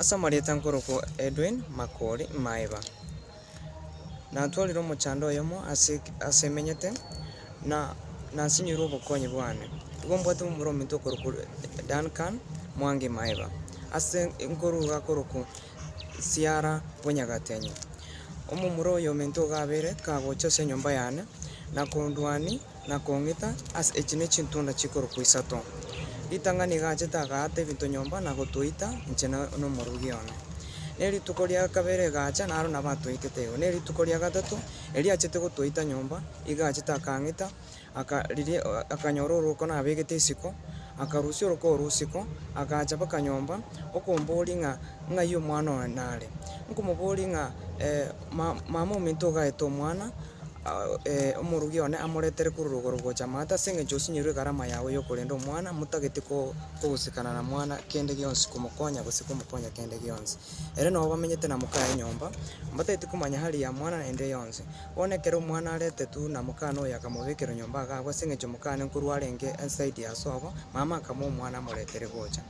Ase amarieta nkorokwa Edwin Makori Maeba. Natwarire omochando oyomo ase ase emenyete, na nasinyoirwe obokonyi bwane. Igo mbwate omomura ominto okorokwa Duncan Mwangi Maeba, ase nkoruga korokwa Siara Bonyagatenyi. Omomura oyo ominto iga abere kagocha ase enyomba yane, na kondwania. na kong'ita ase echi ne chintunda chikorokwa isato. Ritang'ani egachete agaata ebinto nyomba na gotoita inche na omorugi one. Ne rituko ria kabere egacha naro nabo atoitete igo. Ne rituko ria gatato, erio achete gotoita nyomba, egachete akang'ita, aka riria akanyora orwoko nabegete isiko, akarusia orwoko orwo isiko, agacha baka nyomba, okomboria ng'a ng'ai omwana one nare. Nkomoboria ng'a mama ominto ogaete omwana. omorogi one amoretere korwa rogoro gocha amato, ase engencho osinyorwe egarama yago y'okorenda omwana, motageti ko- kogosikana na mwana kende gionsi komokonya gose komokonya kende gionsi. Ere nao bamenyete na mokaye nyomba, mbatageti komanya hali ya mwana naende yonsi. Bono ekero omwana aretetwe buna mokana oyo akamobekerwa nyomba iga abwo ase engencho mokana nkorwa arenge ensaidi asobo, mama akamua omwana amoretere gocha.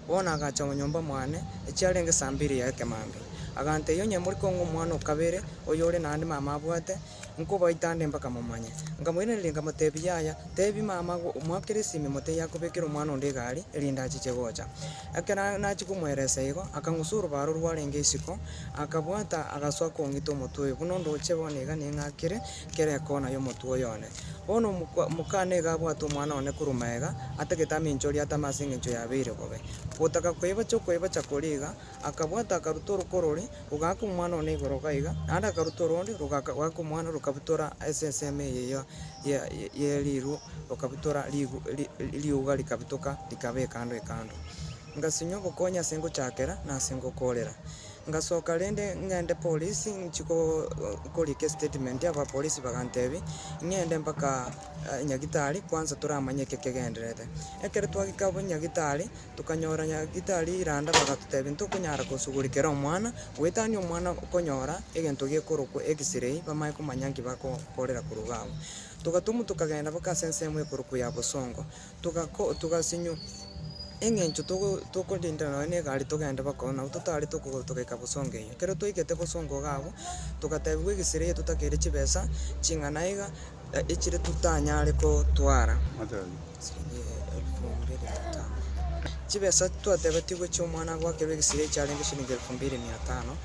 Bono agacha omo nyomba mwane, echiarenge saa mbiri y'ekemambia, agantegia, Onye more kong'u omwana o kabere, oyore naende mama abwate, nkobaite ande mpaka momanye. Nkamoiraneria nkamotebia, Yaya, tebia mama agwo omoakere esimi motebie akobekere omwana onde egari, erinde achiche gocha. Ekero nachia komoeresa igo, akang'usa orobaaro rwarenge isiko, akabwata, agasoa kong'ita omotwe oyo, buna onde oche bono iga ning'akire, Kera ekona y'omotwe oyone. Bono omokwa, omokana nigo abwate omwana one korwa magega, atagete amencho oria atame ase engencho yabeire bobe. Ogotaka koibacha okoibacha koria iga, akabwata akaruta oruko rore, rogaka omwana one igoro iga iga, naende akaruta oronde, rogaka gaka omwana, rokabutora ase ensemo eye ya, ya, ya riru, rokabutora rigu, ri, ri, riuga rikabutoka, rikaba ekando ekando. Ngasinywa obokonyi ase ngochakera, na ase ngokorera. Ngasoka rende ng'ende polisi nchi korika estatement abapolisi bagantebia ng'ende mpaka nyagitari kwanza toramanye eke kegendererete. Ekero twagika abwo nyagitari tokanyora nyagitari randa bagatotebia ntokonyara kosugurikera omwana goetania omwana konyora egento gekorokwa x-ray bamanye komanya nki bakokorera korwa iga abwo. Togatumwa tokagenda mpaka ase ensemo ekorokwa ya Bosongo. Togako togasinyo, eng'encho togo tokorindera nonya ne egari togende baka oo, nabo totarete okogo togaika bosongo eyio. Ekero twaigete bosongo iga abwo, togatebiwa egesira eyio totakeire chibesa ching'ana iga, echire tutanyare kotwara, siringi elfu mbiri mia tano. Chibesa twatebetigwe chia omwana agoakerwa egesira ekio chiarenge siringi elfu mbiri mia tano,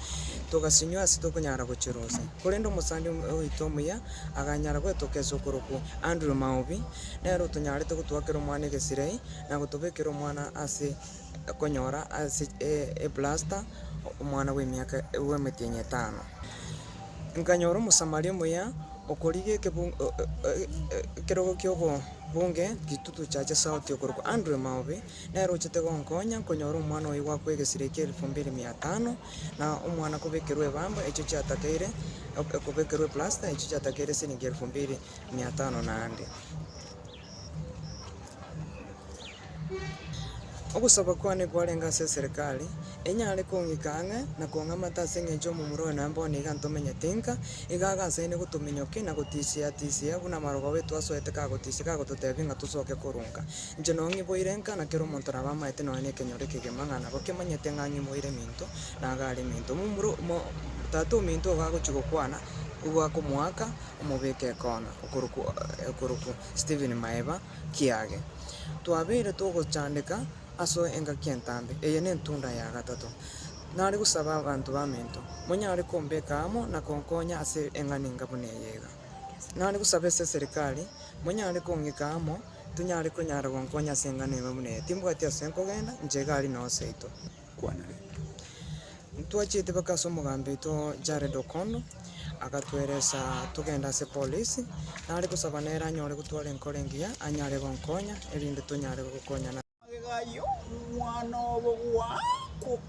togasinywa ase tokonyara gochirusia. Korende omosani oito omuya, aganyara goetoka ase okorokwa Andrew Maobi. Nere otonyarete gotoakera omwana egesirei, na gotobekera omwana ase konyora ase eplasta omwana bw'emiaka bw'emetienyi etano. Nkanyora Omosamaria omuya okorigia ekebungo ekerogo ki'obobunge gitutu chiacha sauti okorokwa Andrew Maobi, nere ochete gonkonya nkonyora omwana oye goakwa egesirei kia elfu mbiri mia tano, na omwana kobekerwa ebamba echio chiatakeire, okobekerwa eplasta echio chiatakeire esiringi elfu mbiri. mia tano na ande. Ogosaba kwane kwarenge ase eserekari, enyare kong'ika ang'e na kong'amata ase engencho y'omomura oyo naende bono iga ntomenyete inka, iga agasaine gotominyokia na gotisia tisia buna amarogo ao etwasoete kagotisia kagototebia ng'a tosoke korwa nka. Inche noo ng'iboire nka na kera omonto nabo amaete nonya nekenyoro ekegima ng'a nabo kemanyete ng'a ng'iboire eminto na iga are eminto. Momura o- mo- tata ominto igo agochia gokwana, igo akomoaka. omobeke ekona okorokwa okorokwa Stephen Maeba Kiage. Twabeire togochandeka aso engaki entambe, eye nentunda ya gatato. Nare gosaba abanto bamento, monyare kombeka amo na konkonya ase eng'ani enga buna eye iga. Nare gosaba ase eserikari, monyare kong'ika amo, tonyare konyara gonkonya ase eng'ana ime buna eye. Timbwati ase nkogenda, inche egari noseito. Ntwachete mpaka ase omogambi oito Jared Okondo, agatweresa togende ase epolisi, nare gosaba nere anyore gotwara enkoro engiya anyare gonkonya, erinde tonyare gokonyana. Magega ayio, omwana obo gwa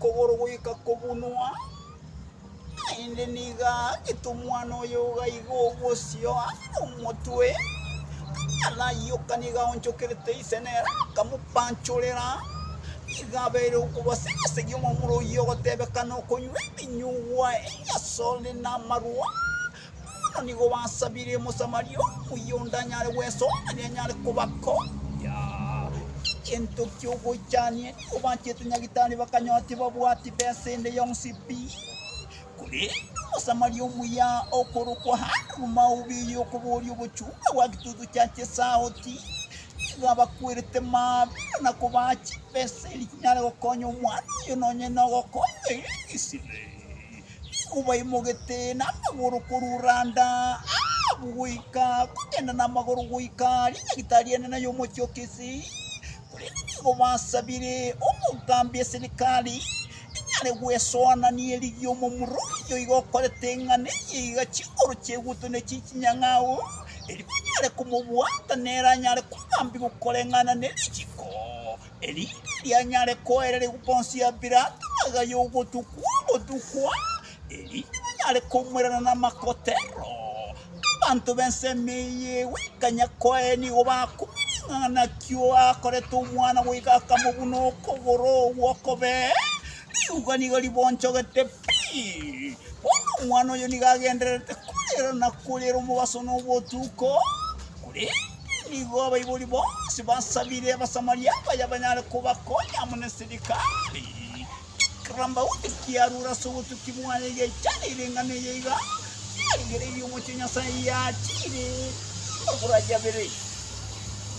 kogoro goika kobunwa. Naende nigo agetumwa noyoga iga obosio ase nomotwe, akaraioka nigo aonchokerete ise nere akamopanchorera. Nigo abeire okobasegesegia omomura oyio ogotebeka nokonywa ebinyugwa ebiasore namarwa, Bono nigo basabirie Omosamaria omuya onde anyare gwesoeria anyare kobakombia egento ki'ogochania. Nigo bachete Nyagetari bakanyora tibabwati besa ende yonsi pi. Korende Omosamaria omuya okorokwa Andrew Maubi oyio okoboria obochunga bwa Gitutu Church Esauti, nigo abakwerete mambia na kobaa chibesa eria chinyare gokonya omwana oyo nonye nogokonywa egesibe. Nkobaimogete namagoro korwa randa Ahabu goika, kogenda namagoro goika ring'agita ri'enene y'omochie o Kisi, korende nigo basabire omogaambi e serikali ing'are gwesoa na nerigiya omomura oyio iga okorete ng'a nerigiya iga chinguru chi'eguto ne chie chinyang'au, erio banyare komobwata nere anyare kogaambigwa koreng'ana ne richiko. Erinde rianyare koereregwa bonsi ya Pilato agaya ogotukwa ogotukwa, erinde banyare komoirana namakotero. Abanto b'ensemo eye goikanya koa ere nigo bakomanya ng'a naki oakorete omwana goika akamobuna okogoro gw'okobe, riuga nigo ribonchogete pi. Bono omwana oyo nigo agendererete koirana koriera omobaso nobotuko, korende Nigo abaibori bonsi basabire Abasamaria abaya banyare kobakonya amo neserikari. Ekero Daudi kiarure ase obotuki bwaye egechanire eng'ana eye iga, yarigereirie omochie Nyasaye yachiire amabura ayabere.